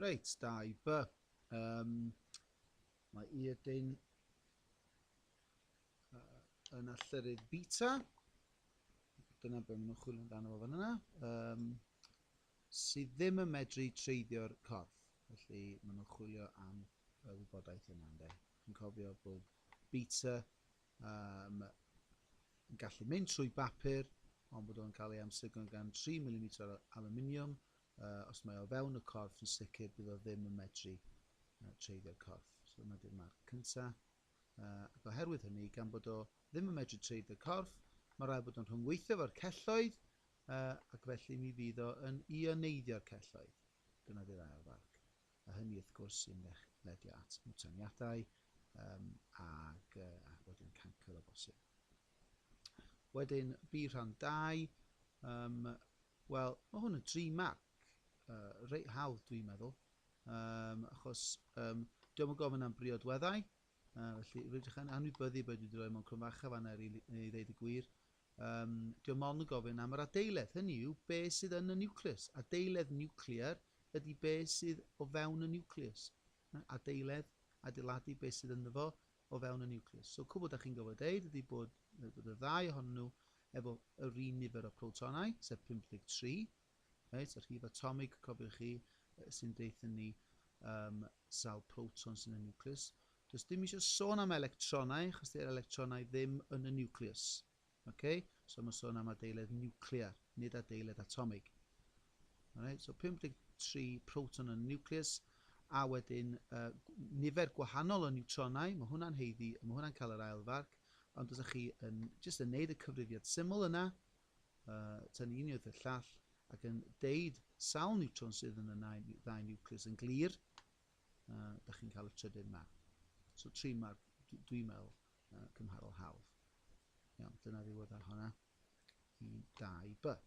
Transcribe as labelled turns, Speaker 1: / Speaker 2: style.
Speaker 1: Reit, da i by. Um, mae Irdyn uh, yn allyrydd beta. Dyna beth maen nhw'n chwilio amdano fo fan yna. Um, sydd ddim yn medru treiddio'r corff. Felly maen nhw'n chwilio am y wybodaeth yna. Ynde. Chi'n cofio bod beta um, yn gallu mynd trwy bapur, ond bod o'n cael ei amsugno gan 3 mm o aluminium, Yy, os mae o fewn y corff, yn sicr bydd o ddim yn medru yy, treiddio'r corff. So dyma di'r marc cynta. Yy, ac oherwydd hynny, gan bod o ddim yn medru treiddio'r corff, mae rhaid bod o'n rhyngweithio fo'r celloedd, yy, ac felly mi fydd o yn ioneidio'r celloedd. Dyna di'r ail farc. A hynny, wrth gwrs, sy'n ledio at mwtaniadau um, ac, uh, a wedyn cancer o bosib. Wedyn, bu rhan 2, um, Wel, ma' hwn yn dri marc yy reit hawdd dwi'n meddwl yym achos yym dio'm yn gofyn am briodweddau yy felly rydych yn anwybyddu be' dwi 'di roi mewn cryn fach yn fan'na i rili- i ddeud y gwir yym dio'm ond yn gofyn am yr adeiledd, hynny yw be' sydd yn y niwclews. Adeiledd niwclear ydi be' sydd o fewn y niwclews. Adeiledd, adeiladu be' sydd ynddo fo, o fewn y niwclews. So cwbl da chi'n gofod deud ydy bod y ddau ohonyn nhw efo yr un nifer o protonau, sef 53, reit, y rhif atomig, cofiwch chi, sy'n deutha ni um, sawl proton sy'n y niwclews. Does dim eisiau sôn am electronau, achos dy'r electronau ddim yn y niwclews. Ok, so mae'n sôn am adeiledd niwclear, nid adeiledd atomig. Alright, so 53 proton yn y nucleus, a wedyn uh, nifer gwahanol o niwtronau, mae hwnna'n heiddi, mae hwnna'n cael yr ail farc, ond os ydych chi yn just yn neud y cyfrifiad syml yna, uh, tynnu un o'r llall, ac yn deud sawl niwtron sydd yn y ddau niwcleus yn glir, uh, da chi'n cael y trydydd marc. So tri marc, dwi'n meddwl, cymharol hawdd. Iawn, dyna ddiwedd ar honna i 2 by.